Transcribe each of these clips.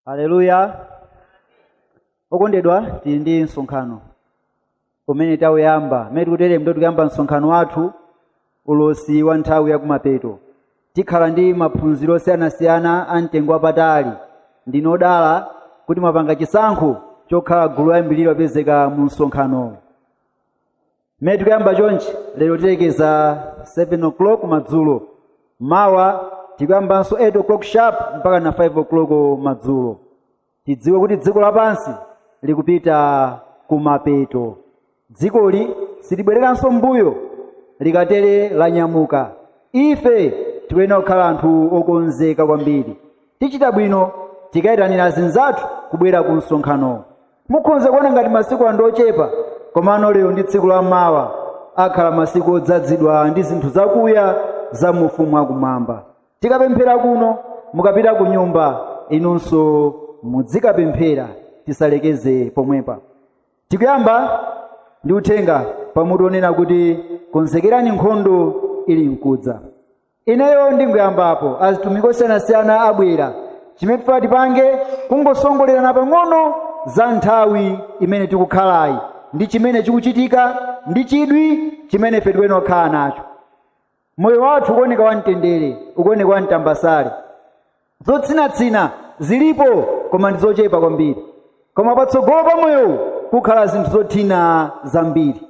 haleluya okondedwa tili ndi msonkhano umene tauyamba mmene tikutere ndiye tikuyamba msonkhano wathu ulosi wa nthawi yakumapeto tikhala ndi maphunziro osiyanasiyana a mtengo wapatali ndinu odala kuti mwapanga chisankho chokhala gulu loyambirira lopezeka mu msonkhanowo mmene tikuyamba chonchi lero tilekeza 7 o'clock madzulo mawa tikuyambanso 8 o'clock sharp mpaka na 5 o'clock madzulo tidziwe kuti dziko lapansi likupita kumapeto dzikoli silibwereranso mbuyo likatere lanyamuka ife tikuyenera kukhala anthu okonzeka kwambiri tichita bwino tikayitanira azinzathu kubwera ku msonkhano mukhonza kuona ngati masiku ndi ochepa komano lero ndi tsiku la mawa akhala masiku odzadzidwa ndi zinthu zakuya za mu ufumu wakumwamba tikapemphera kuno mukapita ku nyumba inunso mudzikapemphera tisalekeze pomwepa tikuyamba ndi uthenga pamutu onena kuti konzekerani nkhondo ili mkudza ineyo ndingoyambapo azitumiki osiyanasiyana abwera chimene tifuna tipange kungosongolerana pang'ono za nthawi imene tikukhalayi ndi chimene chikuchitika ndi chidwi chimene ife tikuyenera kukhala nacho moyo wathu ukuoneka wamtendere ukuoneka wamtambasale zotsinatsina zilipo koma ndi zochepa kwambiri koma patsogolo pa moyowu kukhala zinthu zothina zambiri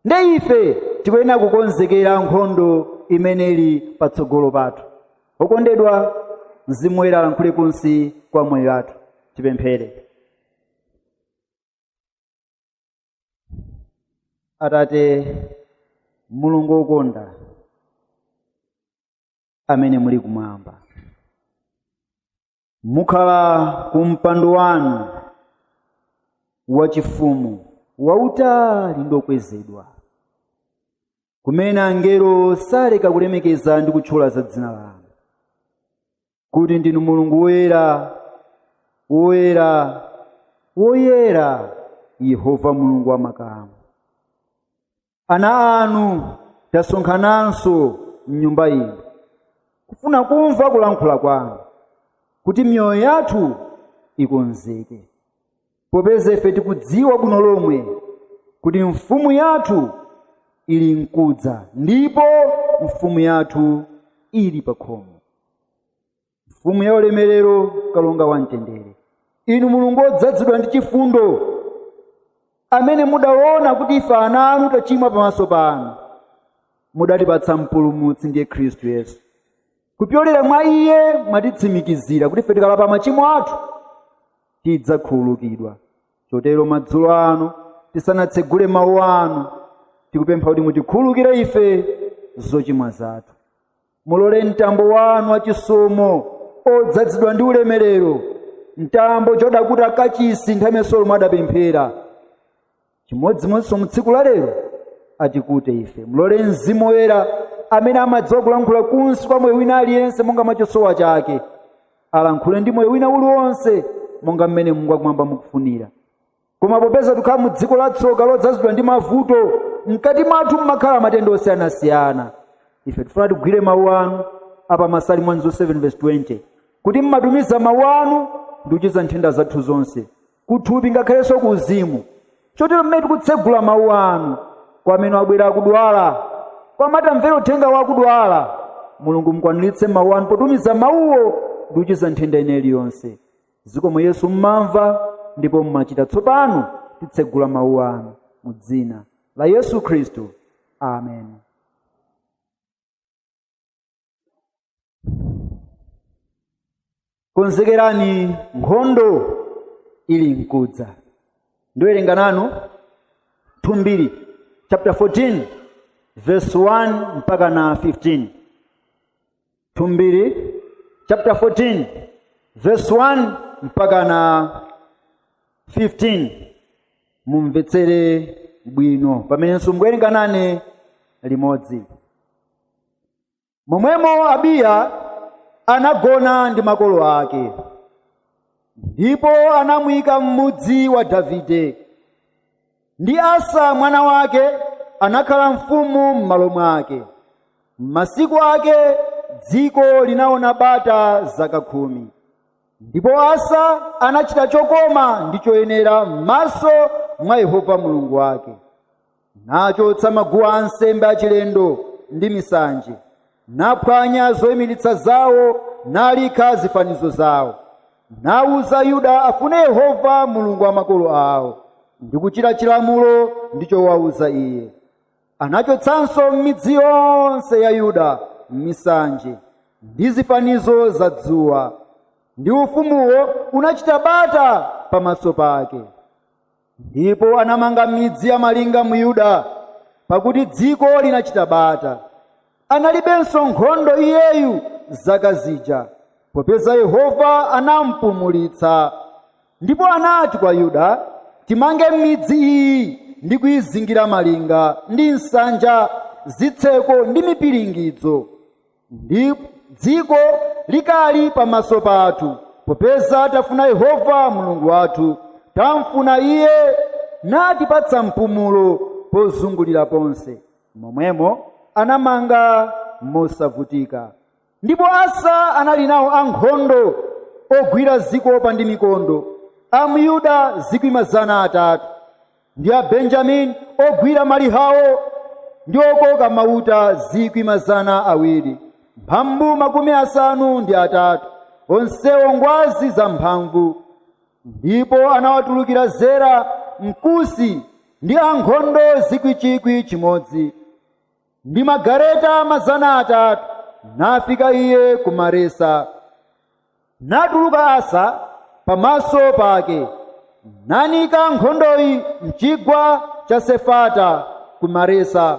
nde ife tikuyenera kukonzekera nkhondo imene ili patsogolo pathu okondedwa mzimu woyera alankhule kunsi kwa moyo wathu tipemphere atate mulungu wokonda amene muli kumwamba mukhala ku mpando wanu wachifumu wautali ndi okwezedwa kumene angelo saleka kulemekeza ndi kutchula za dzina lanu kuti ndinu mulungu woyera woyera woyera yehova mulungu wa makamu ana anu tasonkhananso m'nyumba ino kufuna kumva kulankhula kwanu kuti miyoyo yathu ikonzeke popeza ife tikudziwa bwino lomwe kuti mfumu yathu ili nkudza ndipo mfumu yathu ili pakhomo mfumu ya ulemerero kalonga wa mtendere inu mulungu wodzazidwa ndi chifundo amene mudaona kuti ife ana anu tachimwa pamaso panu mudatipatsa mpulumutsi ndiye khristu yesu kupyolera mwa iye mwatitsimikizira kuti ife tikalapa machimo athu tidzakhululukidwa chotero madzulo ano tisanatsegule mawu anu tikupempha kuti mutikhululukire ife zochimwa zathu mulole mtambo wanu wachisomo odzazidwa ndi ulemerero mtambo uja udakuta kachisi nthawi imene solomo adapemphera chimodzimodzinso mu tsiku la lero atikute ife mulole mzimu woyera amene amadziwa kulankhula kunsi kwa moyo wina aliyense monga mwa chosowa chake alankhule ndi moyo wina uliwonse monga mmene mulungu wakumwamba mukufunira koma popeza tikhala mu dziko la tsoka lodzazidwa ndi mavuto mkati mwathu mmakhala matenda osiyanasiyana ife tifuna tigwire mawu anu apa masalimo 107 verse 20 kuti mmatumiza mawu anu ndi kuchiza nthenda zathu zonse kuthupi ngakhalenso ku uzimu chotero mmene tikutsegula mawu anu kwa amene abwera akudwala kwa amene amvera uthengawu akudwala mulungu mukwaniritse mawu anu potumiza mawuwo ndi kuchiza nthenda ina iliyonse Zikomo Yesu mmamva ndipo mmachita tsopano titsegula mawu anu mu dzina la Yesu Khristu. Amen. Konzekerani nkhondo ili mkudza. Ndiwerenga nanu 2 Mbiri chapter 14 verse 1 mpaka na 15. 2 mbiri chapter 14 verse 1 mpaka na 15 mumvetsere bwino pamenenso mukuwerenga nane limodzi momwemo abiya anagona ndi makolo ake ndipo anamuyika m'mudzi wa davide ndi asa mwana wake anakhala mfumu m'malo mwake m'masiku ake dziko linaona bata zaka khumi ndipo asa anachita chokoma ndi choyenera m'maso mwa yehova mulungu wake nachotsa maguwa ansembe achilendo ndi misanje naphwanya zoyimiritsa zawo nalikha zifanizo zawo nauza yuda afune yehova mulungu wa makolo awo ndi kuchita chilamulo ndi chowauza iye anachotsanso m'midzi yonse ya yuda misanje ndi zifanizo za dzuwa ndi ufumuwo unachita bata pamaso pake ndipo anamanga midzi ya malinga mu yuda pakuti dziko linachita bata analibenso nkhondo iyeyu zaka zija popeza yehova anampumulitsa ndipo anati kwa yuda timange midzi iyi ndi kuyizingira malinga ndi nsanja zitseko ndi mipiringidzo ndi dziko likali pamaso pathu popeza tafuna yehova mulungu wathu tamfuna iye natipatsa mpumulo pozungulira ponse momwemo anamanga mosavutika ndipo asa anali nawo ankhondo ogwira zikopa ndi mikondo a mu yuda zikwi mazana atatu ndi a benjamini ogwira malihawo ndi okoka mauta zikwi mazana awiri mphambu makumi asanu ndi atatu onsewo ngwazi zamphamvu ndipo anawatulukira zera mkusi ndi ankhondo zikwi chikwi chimodzi ndi magareta mazana atatu nafika iye ku maresa natuluka asa pamaso pake nanika nkhondoyi mchigwa cha sefata ku maresa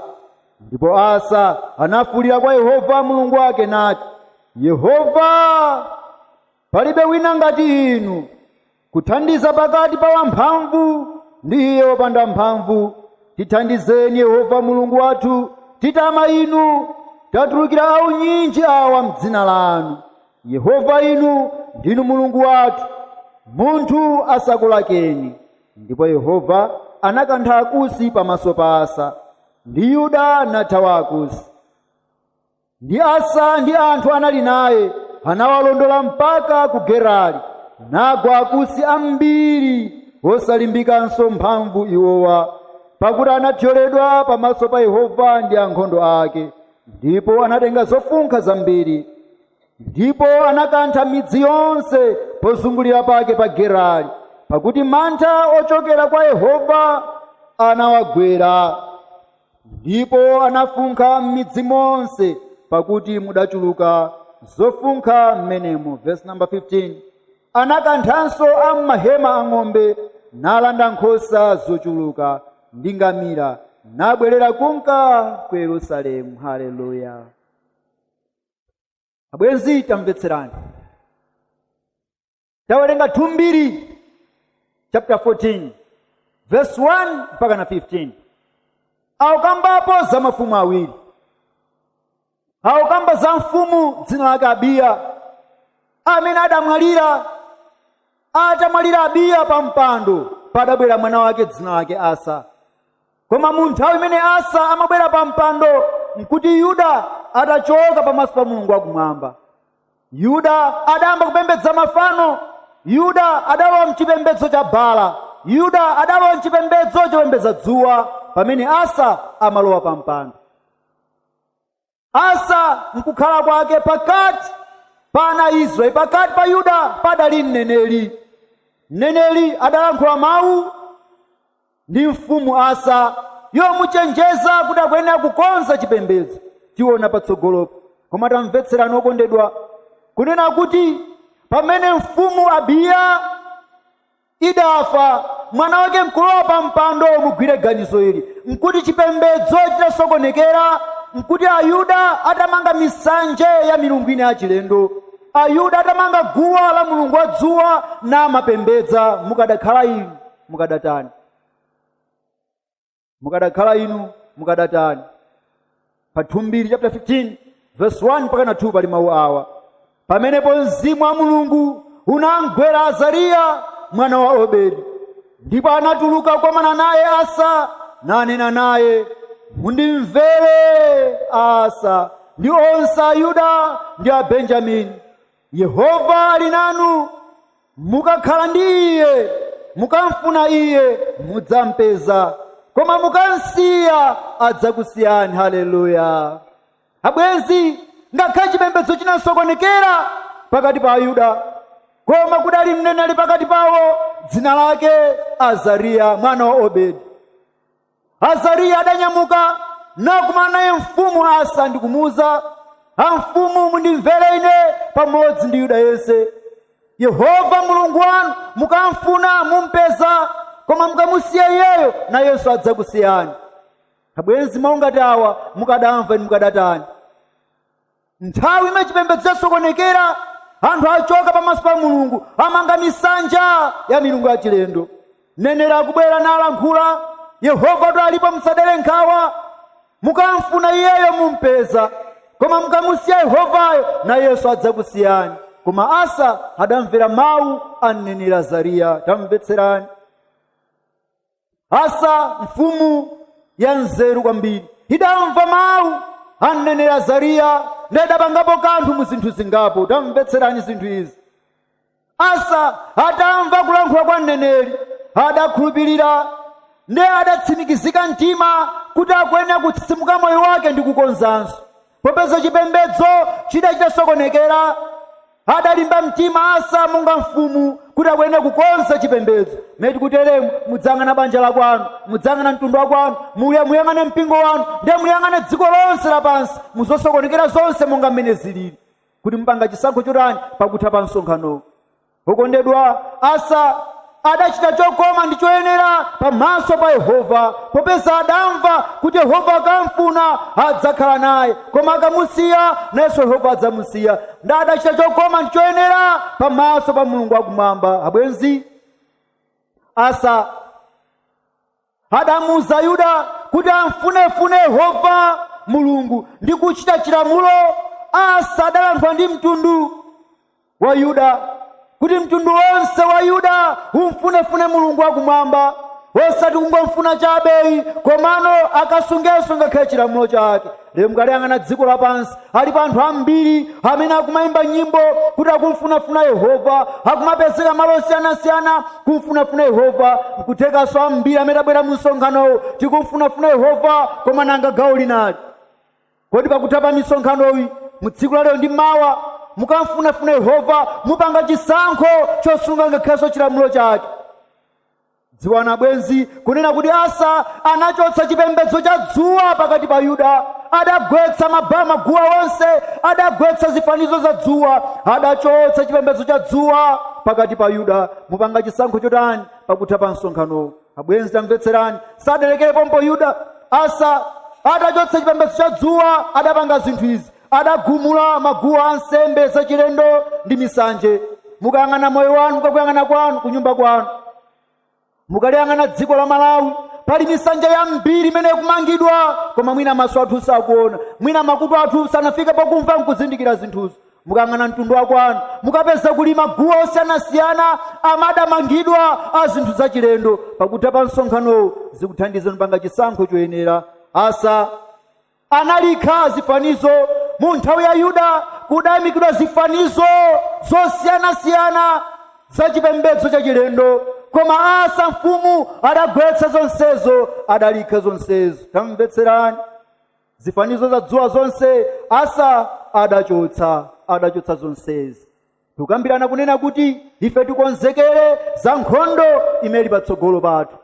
ndipo asa anafuulira kwa yehova mulungu wake nati yehova palibe wina ngati inu kuthandiza pakati pa wamphamvu ndi iye wopanda mphamvu tithandizeni yehova mulungu wathu titama inu tatulukira aunyinji awa mdzina lanu yehova inu ndinu mulungu wathu munthu asakulakeni ndipo yehova anakantha akusi pamaso pa asa ndi yuda nathawa akusi Ndi Asa ndi anthu anali naye anawalondola mpaka ku Gerari, nagwa akusi ambiri osalimbikanso mphamvu iwowa, pakuti anathyoledwa pamaso pa Yehova ndi ankhondo ake, ndipo anatenga zofunkha zambiri. Ndipo anakantha midzi yonse pozungulira pake pa Gerari, pakuti mantha ochokera kwa Yehova anawagwera. ndipo anafunkha m'midzi monse pakuti mudachuluka zofunkha m'menemo verse number 15 anakanthanso a m'mahema a ng'ombe nalanda nkhosa zochuluka ndi ngamira nabwerera kunka ku yerusalemu haleluya abwenzi tamvetserani tawerenga 2 mbiri chapter 14 verse 1 mpaka na 15 akukambapo za mafumu awiri akukamba za mfumu dzina lake abiya amene adamwalira atamwalira abiya pa mpando padabwera mwana wake dzina lake asa koma mu nthawi imene asa amabwera pa mpando nkuti yuda atachoka pamaso pa mulungu wakumwamba yuda adayamba kupembedza mafano yuda adalowa mchipembedzo cha baala yuda adalowa mchipembedzo chopembedza dzuwa pamene asa amalowa pa mpando asa nkukhala kwake pakati pa ana a israeli pakati pa yuda padali mneneri mneneri adalankhula mawu ndi mfumu asa yomuchenjeza kuti akuyenera kukonza chipembedzo tiona patsogolopo koma tamvetserani okondedwa kunena kuti pamene mfumu abiya idafa mwana wake nkulowa pa mpando mugwire ganizo ili nkuti chipembedzo chitasokonekera nkuti ayuda atamanga misanja ya milungu ina yachilendo ayuda atamanga guwa la mulungu wa dzuwa namapembedza mukadakhala inu mukadatani mukadakhala inu mukadatani pa 2 mbiri chapter 15 verse 1 mpaka na 2 pali mawu awa pamenepo mzimu wa mulungu unamgwera azariya mwana wa obedi ndipo anatuluka kukomana naye asa nanena naye mundimvere asa ndi onse ayuda ndi abenjamini Yehova ali nanu, mukakhala ndi Iye, mukamfuna Iye mudzampeza, koma mukamsiya adzakusiyani. Haleluya! Abwenzi, ngakhale chipembedzo chinasokonekera pakati pa Ayuda, koma kudali mneneri pakati pawo dzina lake Azariya mwana wa Obedi. azariya adanyamuka nakumana naye mfumu asa ndi kumuwuza amfumu mundimvere ine pamodzi ndi yuda yense yehova mulungu wanu mukamfuna mumpeza koma mukamusiya iyeyo nayenso adzakusiyani abwenzi mawu ngati awa mukadamva inu mukadatani nthawi imene chipembedzo chasokonekera anthu achoka pamaso pa mulungu amanga misanja ya milungu ya chilendo mneneri akubwera nalankhula yehovatu alipo musadere nkhawa mukamfuna iyeyo mumpeza koma mukamusiya yehovayo nayenso adzakusiyani koma asa adamvera mawu a mneneri azariya tamvetserani asa mfumu ya nzeru kwambiri idamva mawu a mneneri azariya ndiye adapangapo kanthu mu zinthu zingapo tamvetserani zinthu izi asa atamva kulankhula kwa mneneri adakhulupirira ndiye adatsimikiza mtima kuti akuyenera kutsitsimuka moyo wake ndi kukonzanso popeza chipembedzo chidali chitasokonekera adalimba mtima asa monga mfumu kuti akuyenera kukonza chipembedzo meti kuteremu mudzayang'ana banja la kwanu mudzayang'ana mtundu wa kwanu muya muyang'ane mpingo wanu ndiye muyang'ane dziko lonse lapansi muzosokonekera zonse monga mmene zilili kuti mupanga chisankho chotani pakutha pa msonkhanowu okondedwa asa adachita chokoma ndi choyenera pamaso pa yehova popeza adamva kuti yehova akamfuna adzakhala naye koma akamusiya nayenso yehova adzamusiya ndiye adachita chokoma ndi choyenera pamaso pa mulungu wakumwamba abwenzi asa adamuuza yuda kuti amfunefune yehova mulungu ndi kuchita chilamulo asa adalankhula ndi mtundu wa yuda kuti mtundu wonse wa yuda umfunefune mulungu wakumwamba osati kungomfuna chabe ayi komano akasungenso ngakhale chilamulo chake lero mukaliyang'ana dziko lapansi alipo anthu ambiri amene akumayimba nyimbo kuti akumfunafuna yehova akumapezeka malo osiyanasiyana kumfunafuna yehova nkuthekanso ambiri amene tabwera mu msonkhanowu tikumfunafuna yehova koma nanga gawo linalo kodi pakutha pa misonkhanoyi mu tsiku la lero ndi mawa mukamfunafuna yehova mupanga chisankho chosunga ngakhalenso chilamulo chake dziwani abwenzi kunena kuti asa anachotsa chipembedzo cha dzuwa pakati pa yuda adagwetsa maba maguwa onse adagwetsa zifanizo za dzuwa adachotsa chipembedzo cha dzuwa pakati pa yuda mupanga chisankho chotani pakutha pa msonkhanowu abwenzi tamvetserani sadalekere pompo yuda asa adachotsa chipembedzo cha dzuwa adapanga zinthu izi adagumula maguwa a nsembe zachilendo ndi misanje mukayang'ana moyo wanu mukakuyang'ana kwanu kunyumba kwanu mukaliyang'ana dziko la malawi pali misanja yambiri imene ikumangidwa koma mwina maso athu sakuona mwina makutu athu sanafika pakumva nkuzindikira zinthuzo mukayang'ana mtundu wa kwanu mukapeza kuli maguwa osiyanasiyana amene adamangidwa a zinthu zachilendo pakutha pa msonkhanowu zikuthandizani pangani chisankho choyenera asa analikha zifanizo mu nthawi ya yuda kudayimikidwa zifanizo zosiyanasiyana za chipembedzo chachilendo koma asa mfumu adagwetsa zonsezo adalikha zonsezo tamvetserani zifanizo za dzuwa zonse asa adachotsa adachotsa zonsezi tukambirana kunena kuti ife tikonzekere za nkhondo imene ili patsogolo pathu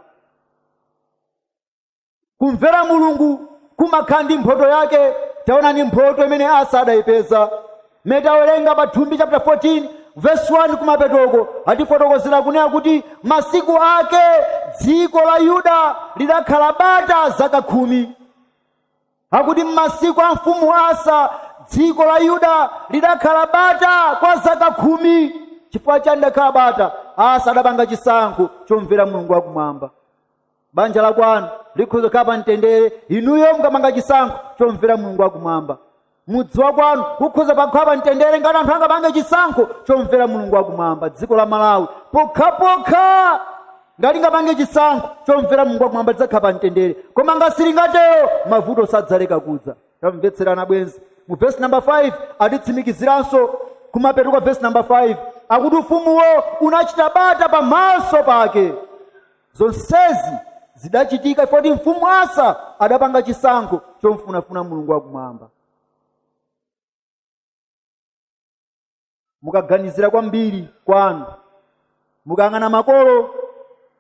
kumvera mulungu kumakhala ndi mphoto yake taonani mphoto imene asa adayipeza mmene tawerenga pa thumbi chapter 14 verse 1 kumapetoko akutifotokozera kunena kuti masiku ake dziko la yuda lidakhala bata zaka khumi akuti m'masiku a mfumu asa dziko la yuda lidakhala bata kwa zaka khumi chifukwa chani lidakhala bata asa adapanga chisankho chomvera mulungu wakumwamba banja la kwanu likhoza kukhala pa mtendere inuyo mukapanga chisankho chomvera mulungu wakumwamba mudzi wa kwanu ukhoza kukhala pa mtendere ngati anthu angapange chisankho chomvera mulungu wakumwamba dziko la malawi pokhapokha ngati lingapange chisankho chomvera mulungu wakumwamba lidzakhala pa mtendere koma ngati silingatero mavuto sadzaleka kudza tamvetserani abwenzi mu vesi namba 5 atitsimikiziranso kumapeto kwa vesi namba 5 akuti ufumuwo unachita bata pamaso pake zonsezi zidachitika chifukwa choti mfumu asa adapanga chisankho chomfunafuna mulungu wakumwamba mukaganizira kwambiri kwanu mukayang'ana makolo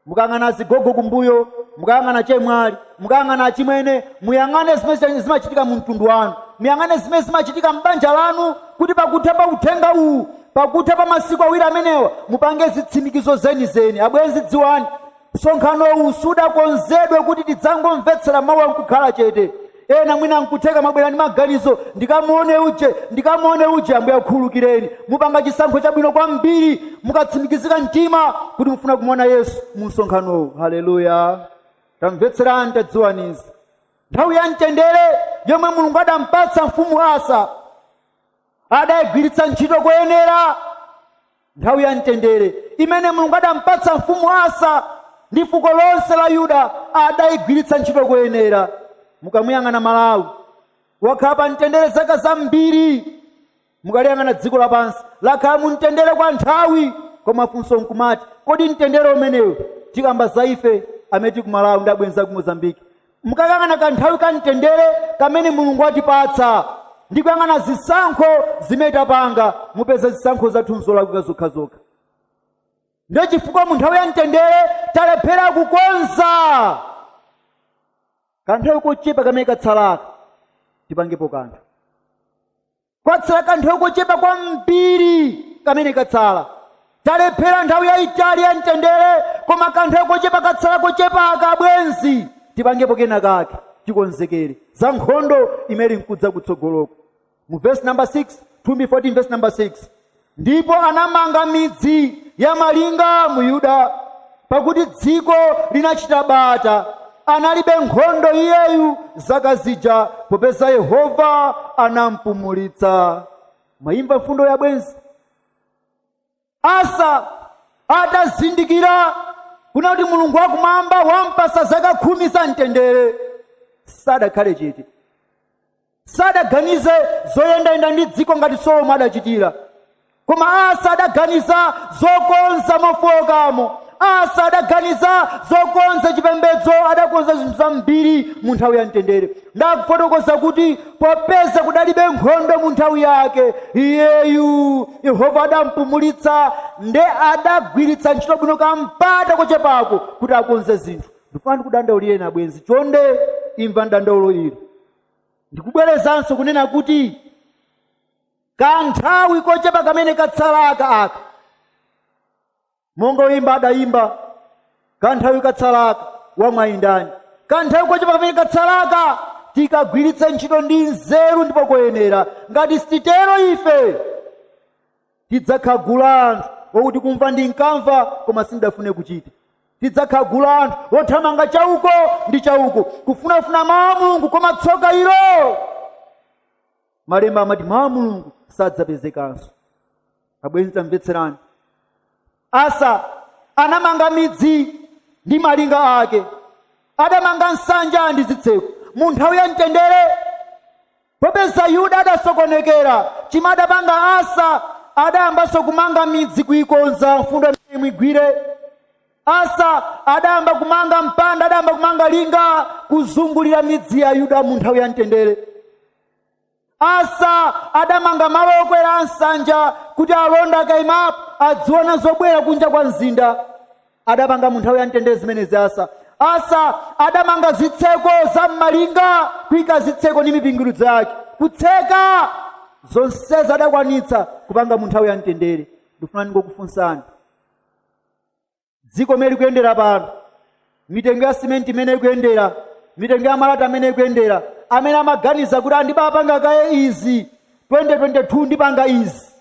mukayang'ana azigogo kumbuyo mukayang'ana achemwali mukayang'ana achimwene muyang'ane zimene zimachitika mu mtundu wanu muyang'ane zimene zimachitika m'banja lanu kuti pakutha pa uthenga uwu pakutha pa masiku awiri amenewa mupange zitsimikizo zenizeni abwenzi dziwani msonkhano uwu sudakonzedwe kuti tidzangomvetsera mawuwa nkukhala chete ena mwina nkutheka mwabwera ndi maganizo ndikamuone uje ndikamuone uje ambuye akhululukireni mupanga chisankho chabwino kwambiri mukatsimikizika mtima kuti mufuna kumuona yesu mu msonkhanowu haleluya tamvetserani tadziwani izi nthawi ya mtendere yomwe mulungu adampatsa mfumu asa adayigwiritsa ntchito koyenera nthawi ya mtendere imene mulungu adampatsa mfumu asa ndi fuko lonse la yuda adayigwiritsa ntchito koyenera mukamuyang'ana malawi wakhala pa mtendere zaka zambiri mukaliyang'ana dziko lapansi lakhala mu mtendere kwa nthawi koma funso nkumati kodi mtendere umenewu tikamba za ife amene tili ku malawi ndi abwenzi aku mozambiki mukayang'ana kanthawi ka mtendere kamene mulungu atipatsa ndi kuyang'ana zisankho zimene tapanga mupeza zisankho zathu nzolakwika zokhazokha ndiye chifukwa mu nthawi ya mtendere talephera kukonza kanthawi kochepa kamene katsalaka tipangepo kanthu kwatsala kanthawi kochepa kwambiri kamene katsala talephera nthawi yayitali ya mtendere koma kanthawi kochepa katsala kochepaka abwenzi tipangepo kena kake tikonzekere za nkhondo imene ikudza kutsogoloko mu verse number 6 2 14 verse number 6 ndipo anamanga midzi ya malinga mu yuda pakuti dziko linachita bata analibe nkhondo iyeyu zaka zija popeza yehova anampumulitsa mwayimva mfundoyi abwenzi asa atazindikira kunena kuti mulungu wakumwamba wampasa zaka khumi za mtendere sadakhale chete sadaganize zoyendayenda ndi dziko ngati solomo adachitira koma asa adaganiza zokonza mofowokamo asa adaganiza zokonza chipembedzo adakonza zinthu zambiri mu nthawi ya mtendere ndakufotokoza kuti popeza kudalibe nkhondo mu nthawi yake iyeyu yehova adampumulitsa nde adagwiritsa ntchito bwino kampata kochepako kuti akonze zinthu ndifuna ndikudandaulireni abwenzi chonde imva dandaulo ili ndikubwerezanso kunena kuti kanthawi kochepa kamene katsalaka aka monga oyimba adayimba kanthawi katsalaka wamwayi ndani kanthawi kochepa kamene katsalaka tikagwiritse ntchito ndi nzeru ndipo koyenera ngati sititero ife tidzakhala gulu la anthu okuti kumva ndinkamva koma sindinkafune kuchita tidzakhala gulu la anthu othamanga chauko ndi chauko kufunafuna mawu a mulungu koma tsoka ilo malemba amati mawu a mulungu sadzapezekanso abwenzi tamvetserani Asa anamanga midzi ndi malinga ake, adamanga nsanja ndi zitseko mu nthawi ya mtendere. Popeza Yuda adasokonekera, chimene adapanga Asa adayambanso kumanga midzi kuikonza. Mfundo imeneyi muigwire. Asa adayamba kumanga mpanda, adayamba kumanga linga kuzungulira midzi ya Yuda mu nthawi ya mtendere. Asa adamanga malo okwera a nsanja kuti alonda akaimapo adziona zobwera kunja kwa mzinda adapanga mu nthawi ya mtendere zimenezi asa asa adamanga zitseko za m'malinga kuika zitseko ndi mipingiridzo yake kutseka zonsezi adakwanitsa kupanga mu nthawi ya mtendere ndifuna ndingokufunsani dziko mmene likuyendera pano mitengo ya simenti mmene ikuyendera mitengo ya malata mmene ikuyendera amene amaganiza kuti ndibapanga kaye izi 2022 ndipanga izi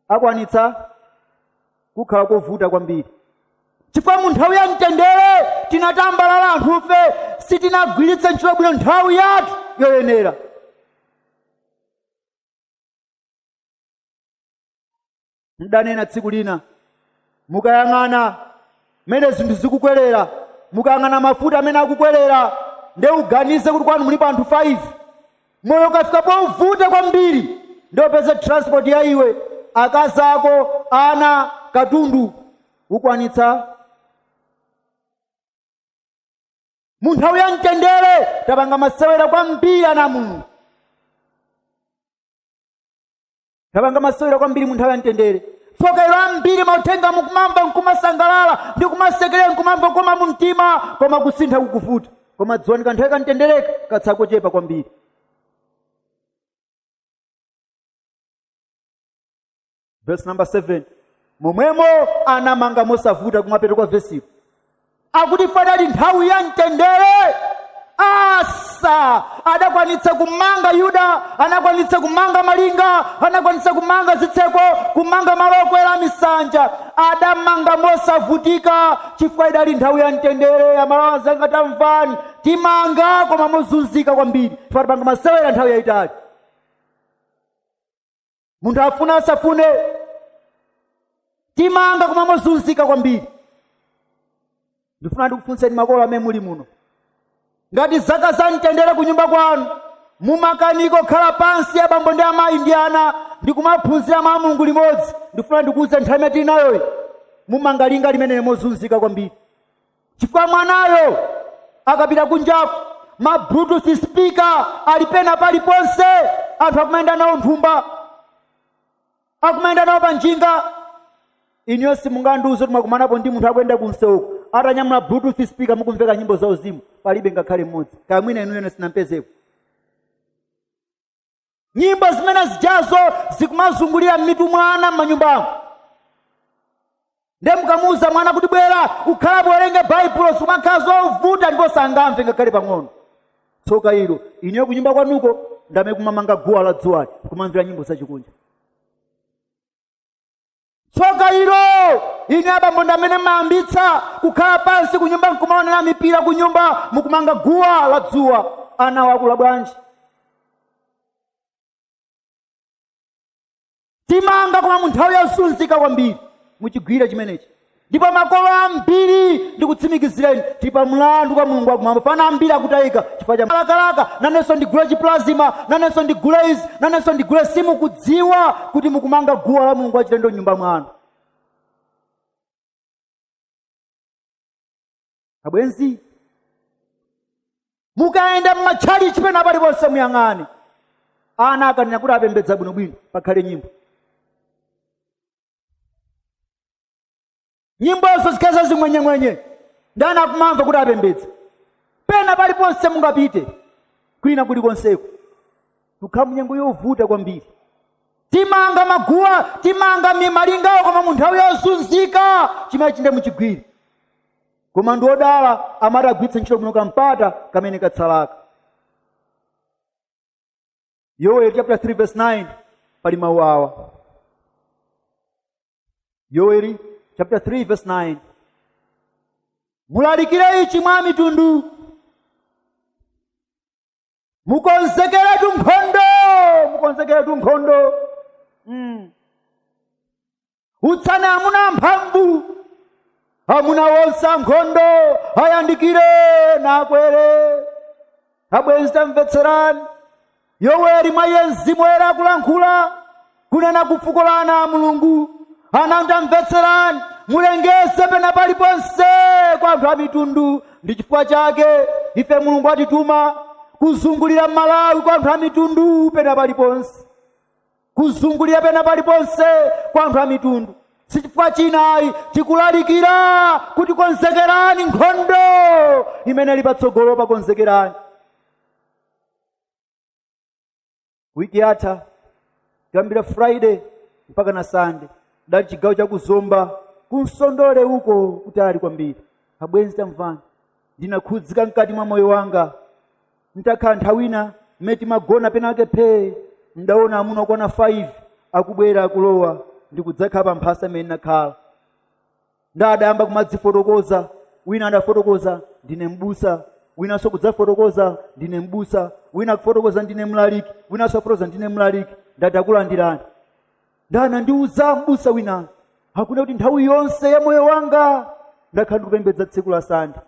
akwanitsa zikhala kovuta kwambiri chifukwa mu nthawi ya mtendere tinatambalala anthufe sitinagwiritse ntchito bwino nthawi yathu yoyenera ndidanena tsiku lina mukayang'ana mmene zinthu zikukwerera mukayang'ana mafuta mmene akukwerera nde uganize kuti kwanu mulipo anthu 5 moyo ukafika povuta kwambiri nde upeze transport ya iwe akazi ako ana katundu ukwanitsa mu nthawi ya mtendere tapanga masewera kwambiri ana a mulungu tapanga masewera kwambiri mu nthawi ya mtendere tsoka ilo ambiri mauthenga mukumamva nkumasangalala ndi kumasekerera nkumamva kukoma mu mtima koma kusintha kukuvuta koma dziwani kanthawi kamtendereka katsala kochepa kwambiri verse number 7 momwemo anamanga mosavuta kumapeto kwa vesipo akuti chifukwa idali nthawi ya mtendere asa adakwanitsa kumanga yuda anakwanitsa kumanga malinga anakwanitsa kumanga zitseko kumanga malo okwera a misanja adamanga mosavutika chifukwa idali nthawi ya mtendere amalawi anzanga tamvani timanga koma mozunzika kwambiri chifukwa tapanga masewera nthawi yayitali munthu afuna asafune timanga koma mozunzika kwambiri ndifuna ndikufunseni makolo amene muli muno ngati zaka za mtendere ku nyumba kwanu mumakanika kukhala pansi abambo ndi amayi ndi ana ndi kumaphunzira mawu a mulungu limodzi ndifuna ndikuuze nthawi imene tili nayoyi mumanga linga limeneli mozunzika kwambiri chifukwa mwanayo akapita kunjaku mabluetooth speaker ali pena paliponse anthu akumayenda nawo mthumba akumayenda nawo pa njinga inuyo simungandiuze kuti mwakumanapo ndi munthu akuyenda kumsewuko atanyamula bluetooth speaker mukumveka nyimbo za uzimu palibe ngakhale mmodzi kaya mwina inuyo sinampezeko nyimbo zimene zijazo zikumazungulira m'mitu mwa ana m'manyumbamo ndiye mukamuwuza mwana kuti bwera ukhale apo uwerenge baibulo zikumakhala zovuta ndipo sangamve ngakhale pang'ono tsoka ilo inuyo kunyumba kwanuko ndi amene mukumamanga guwa la dzuwali kumamvera nyimbo zachikunja tsoka ilo inu abambo ndi amene mumayambitsa kukhala pansi kunyumba nkumaonera mipira kunyumba mukumanga guwa la dzuwa anawo akula bwanji timanga koma mu nthawi yozunzika kwambiri muchigwire chimenechi ndipo makolo ambiri ndikutsimikizireni tili pa mlandu kwa mulungu wakumwamba chifukwa ana ambiri akutayika chifukwa cha malakalaka nanenso ndigule chiplazima nanenso ndigule izi nanenso ndigule simukudziwa kuti mukumanga guwa la mulungu wachilendo mnyumba mwanu abwenzi mukayenda mmatchalichi pena paliponse muyang'ane ana akanena kuti apembedza bwinobwino pakhale nyimbo nyimbozo zikhale za zing'wenyeng'wenye ndiye ana akumamva kuti apembedza pena paliponse mungapite kwina kulikonseko tikukhala munyengo yovuta kwambiri timanga maguwa timanga mimalingawo koma mu nthawi yozunzika chimenechi ndiye muchigwire koma ndi odala amene atagwiritse ntchito bwino kampata kamene katsalaka yoweli chapter 3 verse 9 pali mawu awa yoweri chapter 3 verse 9 mulalikire ichi mwa amitundu mukonzekeretu nkhondo mukonzekeretu nkhondo mm. utsani amuna amphamvu amuna onse ankhondo ayandikire nakwere abwenzi tamvetserani yoweri mwa iye mzimu woyera akulankhula kunena ku fuko la ana a mulungu ana tamvetserani mulengeze pena paliponse kwa anthu a mitundu ndi chifukwa chake ife mulungu atituma kuzungulira malawi kwa anthu a mitundu pena paliponse kuzungulira pena paliponse kwa anthu a mitundu sichifukwa china ayi tikulalikira kuti konzekerani nkhondo imene ili patsogolopa konzekerani wiki yatha kuyambira friday mpaka na sande ndinali chigawo cha ku zomba ku nsondole uko kutali kwambiri abwenzi tamvani ndinakhudzika mkati mwa moyo wanga ntakhala nthawi ina mmene timagona penake phee ndaona amuna okwana 5 akubwera akulowa ndi kudzakhala pa mphasa imene ndinakhala nde adayamba kumadzifotokoza wina adafotokoza ndine mbusa winanso kudzafotokoza ndine mbusa wina akufotokoza ndine mlaliki winanso akufotokoza ndine mlaliki ndati takulandirani nde anandiuza mbusa wina akunena kuti nthawi yonse ya moyo wanga ndakhala ndikupembedza tsiku la sande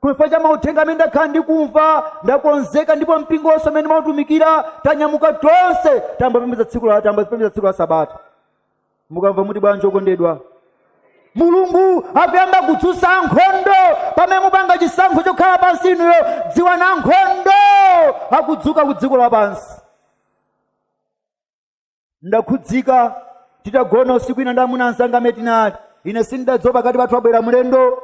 chifukwa cha mauthenga amene ndakhala ndi kumva ndakonzeka ndipo mpingo wonse umene ndimautumikira tanyamuka tonse tayamba kupembedza tsiku la tayamba kupembedza tsiku la sabata mukamva muti bwanji okondedwa mulungu akuyamba kudzutsa ankhondo pamene mupanga chisankho chokhala pansi inuyo dziwani ankhondo akudzuka ku dziko lapansi ndakhudzika titagona usiku ina ndi amuna anzanga amene tinali ine sindidadziwa pakati pathu abwera mlendo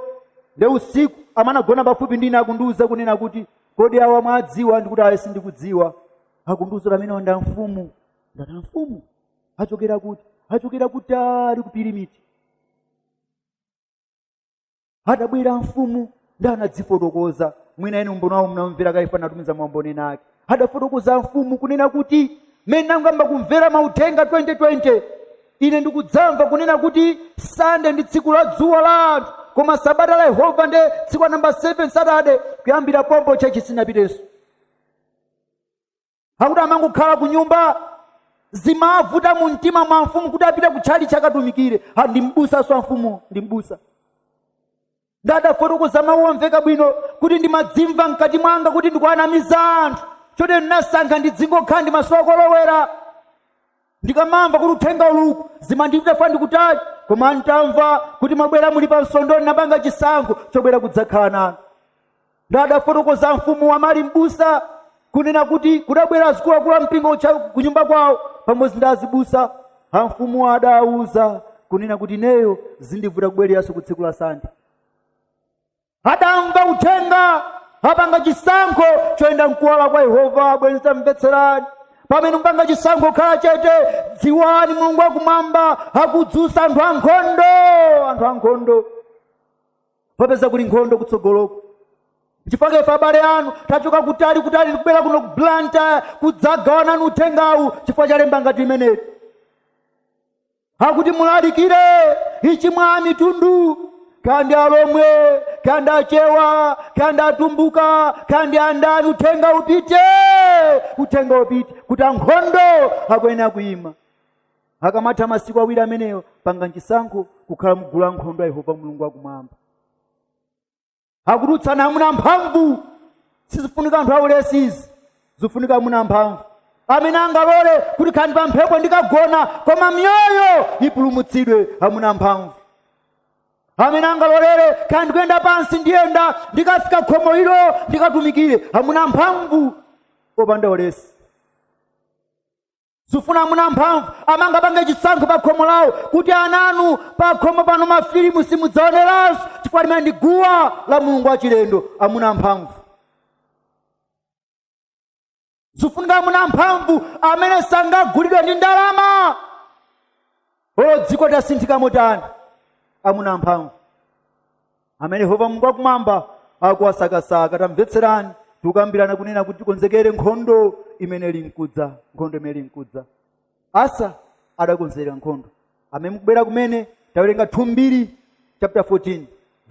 nde usiku amene anagona pafupi ndi ine akundiuza kunena kuti kodi awa mwawadziwa ndikuti ayi sindikudziwa akundiuza kuti amenewa ndi amfumu ndati amfumu achokera kuti achokera kutali ku pirimiti adabwera amfumu nde anadzifotokoza mwina inu umboni wawo mnamvera kale ife tinatumiza maumboni ena ake adafotokoza amfumu kunena kuti mmene nangoyamba kumvera mauthenga 2020 ine ndikudzamva kunena kuti sande ndi tsiku la dzuwa la anthu koma sabata la yehova nde tsiku la namba 7 satade kuyambira pompo chechi sinapitenso akuti amangokhala ku nyumba zimavuta mu mtima mwa amfumu kuti apite kutchalitchi akatumikire Ha, ndi mbusanso mfumu ndi mbusa nde adafotokoza mawu omveka bwino kuti ndimadzimva mkati mwanga kuti ndikuanamiza anthu chotero ndinasankha ndidzingokhala ndi masowa kolowera ndikamamva kuti uthenga uli uku zimandivuta chifukwa ndi kutali koma ntamva kuti mwabwera muli pa msonkhano ndinapanga chisankho chobwera kudzakhala nanu nde adafotokoza amfumu amene ali mbusa kunena kuti kudabwera azikuluakulu a mpingo uja kunyumba kwawo pamodzi ndi azibusa amfumu adawauza kunena kuti ineyo zindivuta kubwereranso ku tsiku la sande adamva uthenga apanga chisankho choyenda mkuwala kwa yehova abwenzi tamvetserani pamene mupanga chisankho kukhala chete dziwani mulungu wakumwamba akudzutsa anthu ankhondo anthu ankhondo popeza kuli nkhondo kutsogoloku chifukwa ife abale anu tachoka kutali kutali tikubwera kuno ku blantyre kudzagawana nanu uthengawu chifukwa cha lemba ngati limeneli akuti mulalikire ichi mwa amitundu kaya ndi alomwe kaya ndi achewa kaya ndi atumbuka kaya ndi andani uthenga upite uthenga upite kuti ankhondo akuyenera kuima akamatha masiku awiri ameneyo panga chisankho kukhala mgulu la nkhondo a yehova mulungu wakumwamba akufuna amuna mphamvu sizifuna anthu aulesizi zifunika amuna mphamvu amene angalole kuti kaya ndi pa mphepo ndikagona koma miyoyo ipulumutsidwe amuna mphamvu amene angalolere kaya ndikuyenda pansi ndiyenda ndikafika khomo ilo ndikatumikire amuna mphamvu opanda ulesi zifuna amuna amphamvu amene angapange chisankho pa khomo lawo kuti ana anu pa khomo pano mafilimu simudzaoneranso chifukwa limene ndi guwa la mulungu wachilendo amuna amphamvu zifunika amuna amphamvu amene sangagulidwe ndi ndalama olo dziko litasinthika motani amuna amphamvu amene yehova mulungu akumwamba akuwasakasaka tamvetserani tikukambirana kunena kuti tikonzekere nkhondo imene ili mkudza nkhondo imene ili mkudza asa adakonzekera nkhondo amene mukubwera kumene tawerenga 2 mbiri chapter 14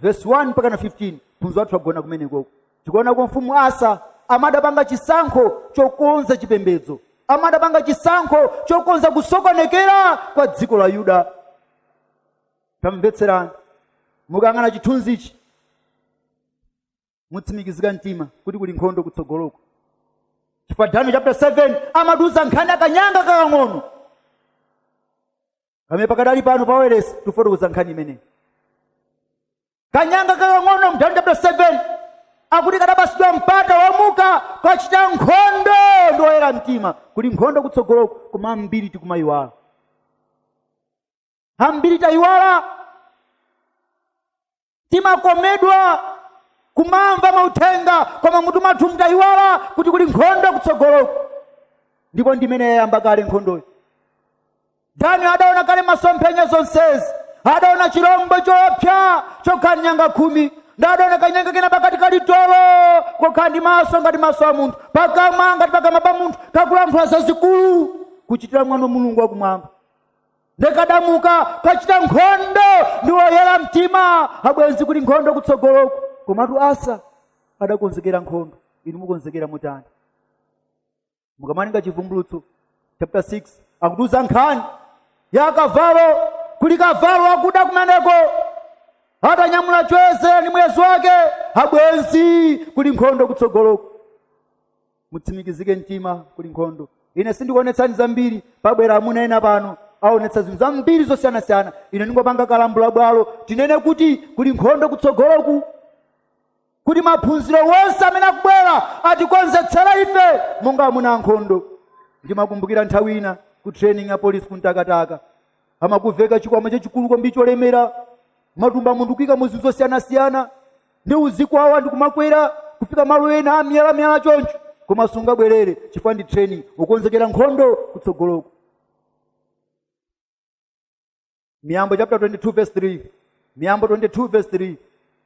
verse 1 mpaka na 15 phunziro lathu lagona kumene koko tikuona kwa mfumu asa amene adapanga chisankho chokonza chipembedzo amene adapanga chisankho chokonza kusokonekera kwa dziko la yuda tamvetserani mukayang'ana chithunzichi mutsimikizika mtima kuti kuli nkhondo kutsogoloko chifukwa daniel chapter 7 amatiuza nkhani ya kanyanga kakang'ono kamene pakadali pano paweresi tifotokoza nkhani imeneyi kanyanga kakang'ono mu daniel chapter 7 akuti kadapatsidwa mpata womuka kukachita nkhondo ndi oyera mtima kuli nkhondo kutsogoloko koma ambiri tikumayiwala ambiri tayiwala timakomedwa kumamva mauthenga koma mutu mwathu mu tayiwala kuti kuli nkhondo kutsogoloko ndipo ndimene yayamba kale nkhondoyo daniel adaona kale masomphenya zonsezi adaona chilombo choopsa chokhala ndi nyanga khumi ndi adaona kanyanga kena pakati kali tolo kokhala ndi maso ngati maso a munthu pakamwa ngati pakamwa pa munthu kakulankhula zazikulu kuchitira mwano mulungu wakumwamba ndi kadamuka kachita nkhondo ndi oyera mtima abwenzi kuli nkhondo kutsogoloku komatu asa adakonzekera nkhondo inu mukonzekera motani mukamawerenga chivumbulutso chapter 6 akutiuza nkhani ya kavalo kuli kavalo wakuda kumeneko atanyamula choyezera ndi muyeso wake abwenzi kuli nkhondo kutsogoloku mutsimikizike mtima kuli nkhondo ine sindikuonetsani zambiri pabwera amuna ena pano aonetsa zinthu zambiri zosiyanasiyana ine ndingopanga kalambula bwalo tinene kuti kuli nkhondo kutsogoloku kuti maphunziro wonse amene akubwera atikonzetsera ife monga amuna ankhondo ndimakumbukira nthawi ina ku training ya polisi ku Ntakataka amakuveka chikwama chachikulu kwambiri cholemera matumba munthu kuika mu zinthu zosiyanasiyana ndi uzikwawa ndikumakwera kufika malo ena a miyalamiyala choncho koma sungabwerere chifukwa ndi training ukonzekera nkhondo kutsogoloko miyambo chapter 22 verse 3 miyambo 22 verse 3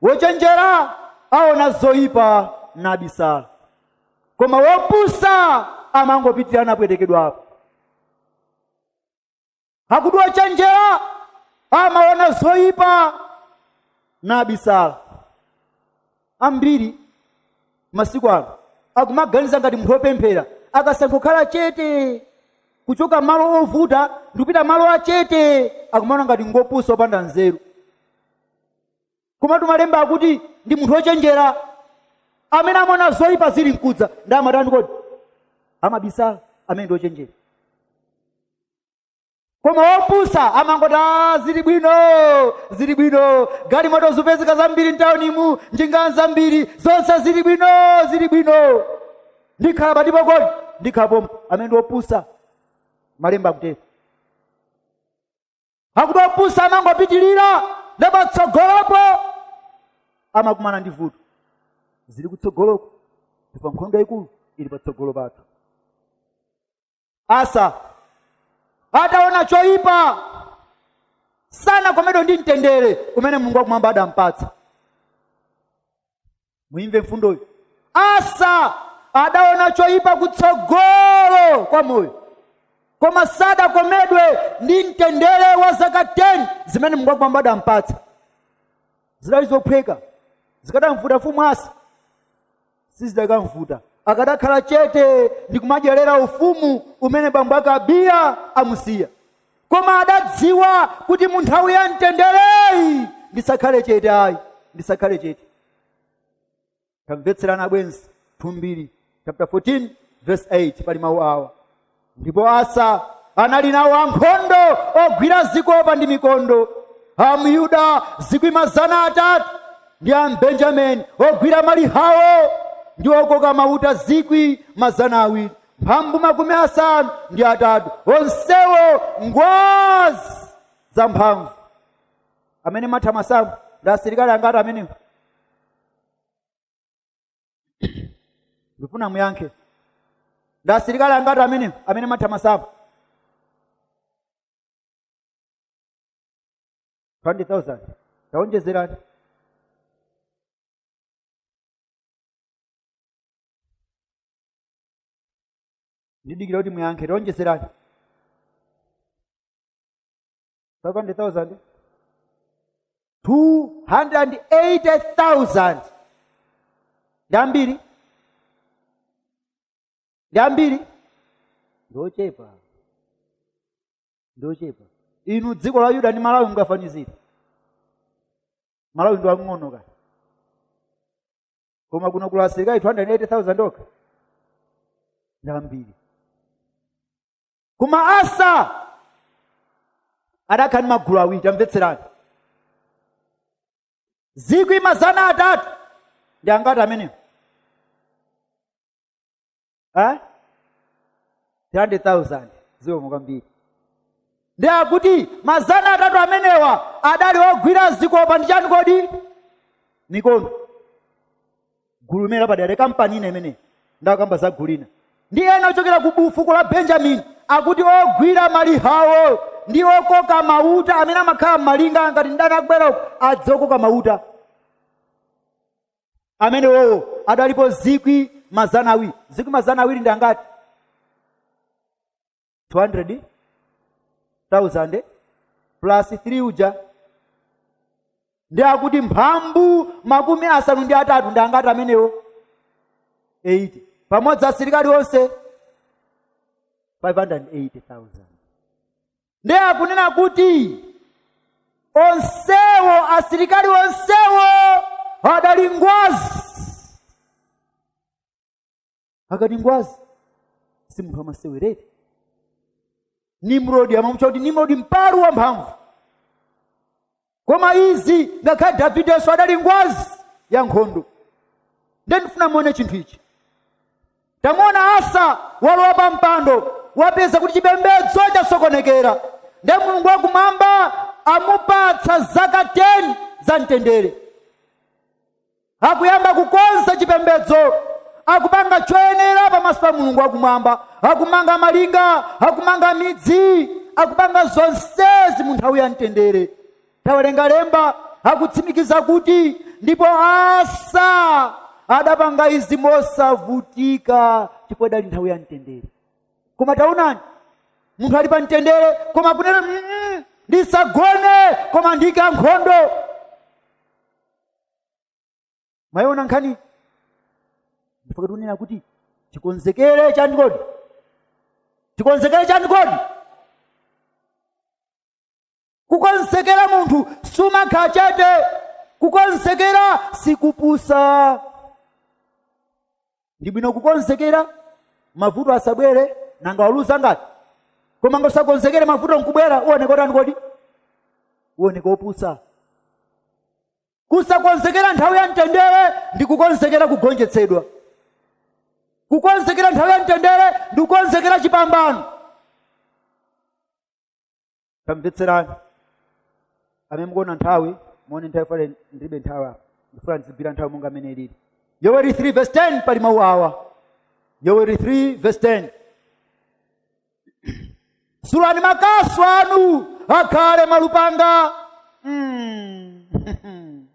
wochenjera aona zoyipa nabisala koma wopusa amangopitira napwetekedwapo akuti wochenjera amaona zoyipa nabisala ambiri masiku ano akumaganiza ngati munthu wopemphera akasankha kukhala chete kuchoka malo ovuta ndikupita malo achete akumaona ngati ngopusa wopanda nzeru komatu malemba akuti ndi munthu wochenjera amene amaona zoyipa zili mkudza ndiye amatani kodi amabisala amene ndi wochenjera koma wopusa amangoti "Ah, zili bwino zili bwino galimoto zikupezeka zambiri mtawunimu njinga zambiri zonse zili bwino zili bwino ndikhala pati kodi ndikhala pompo amene ndi wopusa malemba akutero akuti wopusa amangopitirira ndiye patsogolopo amakumana ndi vuto zili kutsogoloko chifukwa nkhondo yayikulu ili patsogolo pathu asa adaona choyipa sanakomedwe ndi mtendere umene mulungu wakumwamba adampatsa muyimve mfundoyi asa adaona choyipa kutsogolo kwa moyo koma sadakomedwe ndi mtendere wa zaka 10 zimene mulungu wakumwamba adampatsa zidali zophweka zikadamvuta mfumu asa sizidakamvuta akadakhala chete ndi kumadyerera ufumu umene bambo ake abiya amusiya koma adadziwa kuti mu nthawi ya mtendereyi ndisakhale chete ayi ndisakhale chete tamvetserana abwenzi 2 mbiri chapter 14 verse 8 pali mawu awa ndipo asa anali nawo ankhondo ogwira zikopa ndi mikondo amuyuda zikwi mazana atatu ndi ambenjamini ogwira malihawo ndi okoka mauta zikwi mazana awiri mphambu makumi asanu ndi atatu onsewo ngwazi zamphamvu amene matha masamu ndi asilikali angati amenewo ndifuna muyankhe ndi asilikali angati amenewo amene mumatha masamu 20000 taonjezerani ndidikira kuti muyankhe taonjezerani 500,000 280,000 ndi ambiri ndi ambiri ndiochepa ndiochepa inu dziko la yuda ndi malawi mungafanizire malawi ndi wang'ono kani koma kuno kuli asilikali 280,000 okha ndi ambiri koma asa adakhala ndi magulu awiri tamvetserani zikwi mazana atatu ndi angati amenewo Eh? 300,000 zikomo kwambiri ndiye akuti mazana atatu amenewa adali ogwira zikopa ndi chani kodi mikondo gulu limenelo lapadera kampani ina imeneyo ndakamba za gulu lina ndi ena ochokera ku bu- fuko la benjamini akuti ogwira malihawo ndi okoka mauta amene amakhala m'malinga ngati mdani akubwera uko adzokoka mauta amenewo adalipo zikwi mazana awiri zikwi mazana awiri ndi angati 200,000 plus 3 uja ndiye akuti mphambu makumi asanu ndi atatu ndi angati amenewo 80 pamodzi asilikali onse 580,000 ndiye akunena kuti onsewo asilikali onsewo adali ngwazi akati ngwazi si munthu wamasewera nimrodi amamutcha kuti nimrodi mpalu wamphamvu koma izi ngakhale davidenso adali ngwazi ya nkhondo nde ndifuna muone chinthu ichi tamuona asa walowa pa mpando wapeza kuti chipembedzo chasokonekera nde mulungu wakumwamba amupatsa zaka 10 za mtendere Akuyamba kukonza chipembedzo, akupanga choyenera pamaso pa Mulungu wakumwamba, akumanga malinga, akumanga midzi, akupanga zonsezi mu nthawi ya mtendere. Tawerenga lemba, akutsimikiza kuti ndipo Asa adapanga izi mosavutika chifukwa idali nthawi ya mtendere. Koma taonani, munthu ali pa mtendere koma kunena "Mm, mm, ndisagone koma ndiike ankhondo mwayiona nkhani n'chifukwa tikunena kuti tikonzekere chani kodi tikonzekere chani kodi kukonzekera munthu sumakhala chete kukonzekera sikupusa ndi bwino kukonzekera mavuto asabwere nanga waluza ngati koma ngosakonzekera mavuto nkubwera uoneka otani kodi uoneka opusa kusakonzekera nthawi ya mtendere ndi kukonzekera kugonjetsedwa kukonzekera nthawi ya mtendere ndi kukonzekera chipambano tamvetserani amene mukuona nthawi muone nthawi fale ndilibe nthawi apa ndifuna ndizigwira nthawi monga amene ilili yoweri 3 verse 10 pali mawu awa yoweri 3 verse 10 sulani makasu anu akhale malupanga mm.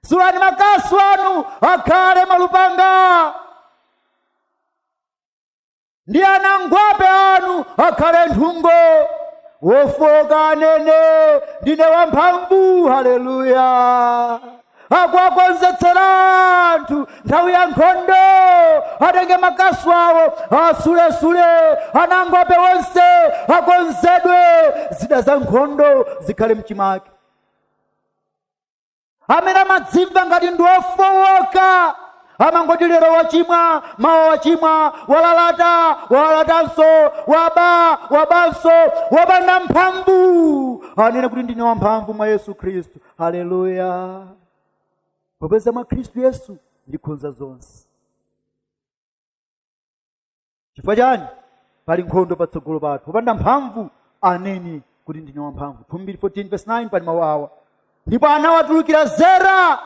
sulani makasu anu akhale malupanga ndi anangwape anu akhale nthungo wofowoka anene ndine wamphamvu haleluya akuwakonzekeretsa anthu nthawi ya nkhondo atenge makasu awo awasulesule anangwape wonse akonzedwe zida za nkhondo zikhale mchimake amene amadzimva ngati ndi wofowoka amangoti lero wachimwa mawa wachimwa walalata walalatanso waba wabanso wapanda mphamvu anene kuti ndine wamphamvu mwa yesu khristu haleluya popeza mwa khristu yesu ndikhonza zonse chifukwa chani pali nkhondo patsogolo pathu wopanda mphamvu anene kuti ndine wamphamvu 2 mbiri 14 verse 9 pali mawu awa ndipo anawatulukira zera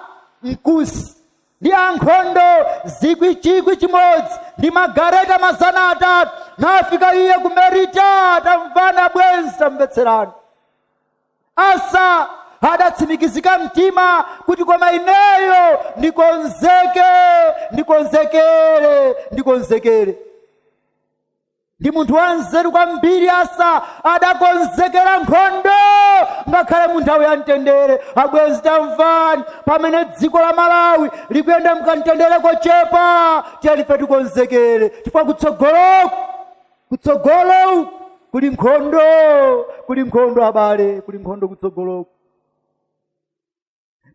mkusi ndi ankhondo zikwi chikwi chimodzi ndi magareta mazana atatu nafika iye ku merita tamvana bwenzi tamvetserani Asa adatsimikizika mtima kuti koma ineyo ndikonzeke ndikonzekere ndikonzekere ndi munthu wanzeru kwambiri asa adakonzekera nkhondo ngakhale mu nthawi ya mtendere abwenzi tamvani pamene dziko la malawi likuyenda mkamtendere kochepa tiyeni ife tikonzekere chifukwa kutsogoloku kutsogolo kuli nkhondo kuli nkhondo abale kuli nkhondo kutsogoloku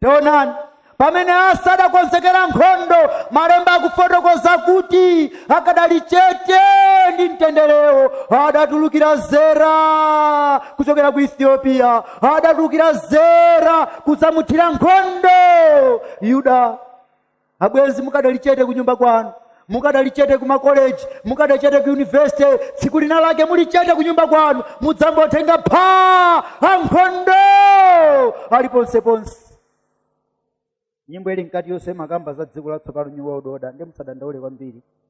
taonani pamene asa adakonzekera nkhondo malemba akufotokoza kuti akadali chete ndi mtenderewo adatulukira zera kuchokera ku ethiopia adatulukira zera kudzamuthira nkhondo yuda abwenzi mukadali chete kunyumba kwanu mukadali chete kumakoleji mukadali chete ku yunivesite tsiku lina lake muli chete kunyumba kwanu mudzangotenga phaa ankhondo ali ponseponse nyimbo ili mkati yonse imakamba za dziko latsopano new world order ndiye musadandaule kwambiri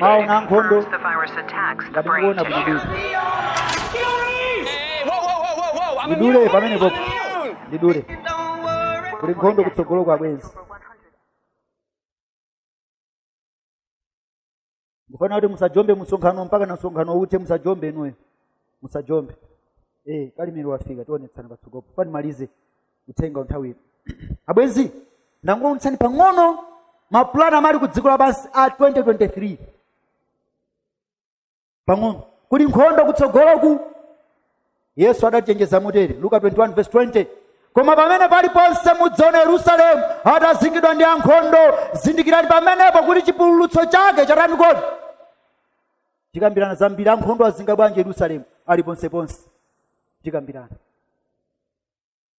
mawu na nkhondo ngati mukuona bwinobwino ndidule pamene popo ndidule kuli nkhondo kutsogoloku abwenzi ndikufuna kuti musajombe msonkhano mpakana msonkhano uthe musajombe inuyo musajombe eh kalimiri wafika tionetsana patsogolopo funa nimalize uthenga nthawi ino abwenzi ndangoonetsani pang'ono mapulani amene ali ku dziko lapansi a 2023 pang'ono kuli nkhondo kutsogoloku yesu adachenjeza motere luka 21 verse 20 koma pamene paliponse mudzaona yerusalemu atazingidwa ndi ankhondo zindikirani pamenepo kuti chipululutso chake chatani kodi tikambirana zambiri ankhondo azinga bwanji yerusalemu ali ponseponse tikambirana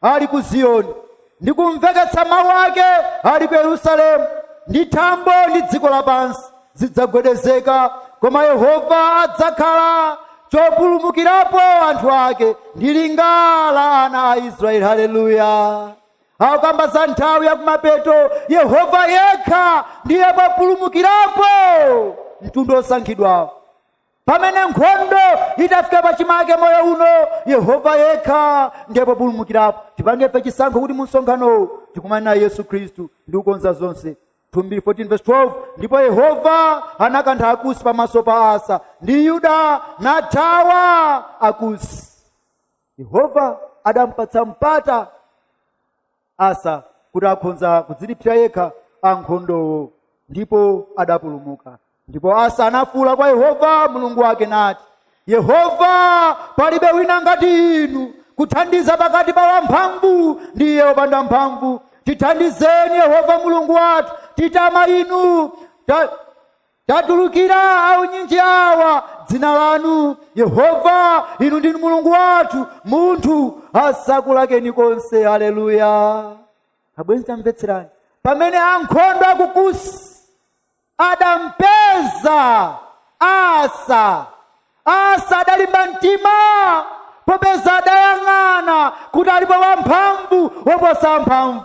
ali ku ziyoni ndi kumveketsa mawu ake ali ku yerusalemu ndi thambo ndi dziko lapansi zidzagwedezeka koma yehova adzakhala chopulumukirapo anthu ake ndi linga la ana a israeli haleluya akukamba za nthawi ya kumapeto yehova yekha ndiye populumukirapo mtundu osankhidwawo pamene nkhondo itafika pachimake moyo uno yehova yekha ndiye populumukirapo tipange ife chisankho kuti mumsonkhanowu tikumane naye yesu khristu ndi kukonza zonse 2 Mbiri 14 verse 12 ndipo yehova anakantha akusi pamaso pa asa ndi yuda nathawa akusi yehova adampatsa mpata asa kuti akhonza kudzilipsira yekha ankhondowo ndipo adapulumuka ndipo asa anafuula kwa yehova mulungu wake nati yehova palibe wina ngati inu kuthandiza pakati pa wamphamvu ndi iye wopanda mphamvu tithandizeni yehova mulungu wathu titama inu ta, Tatulukira aunyinji awa m'dzina lanu, Yehova, inu ndinu Mulungu wathu, munthu asakulakeni konse. Haleluya! Abwenzi, tamvetserani. Pamene ankhondo a ku Kusi adampeza Asa, Asa adalimba mtima popeza adayang'ana kuti alipo wamphamvu woposa amphamvu.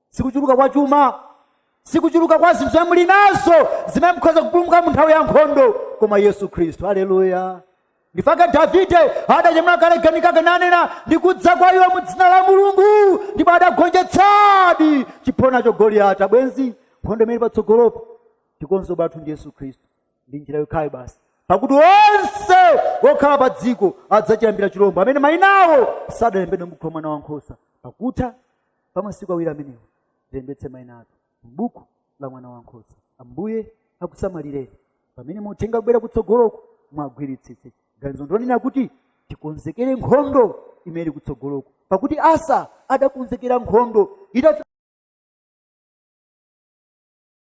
sikuchuluka kwa chuma sikuchuluka kwa zinthu zomwe muli nazo zimene mukhoza kupulumuka mu nthawi ya nkhondo koma yesu khristu haleluya n'chifukwa chake davide adanyamula kalegeni kake nanena ndikudza kwa iwe mu dzina la mulungu ndipo adagonjetsadi chiphonacho goliyati abwenzi nkhondo imene ili patsogolopo chikonzero chathu ndi yesu khristu ndi njira yokhayo basi pakuti onse okhala pa dziko adzachilambira chilombo amene mayina awo sadalembedwe m'buku la mwana wankhosa pakutha pa masiku awiri amenewo tilembetse maina athu m'buku la mwana wankhosa ambuye akusamalireni pamene uthenga ukubwera kutsogoloko mugwiritsitse ganizo ndonena kuti tikonzekere nkhondo imene ili kutsogoloko pakuti asa adakonzekera nkhondo idafika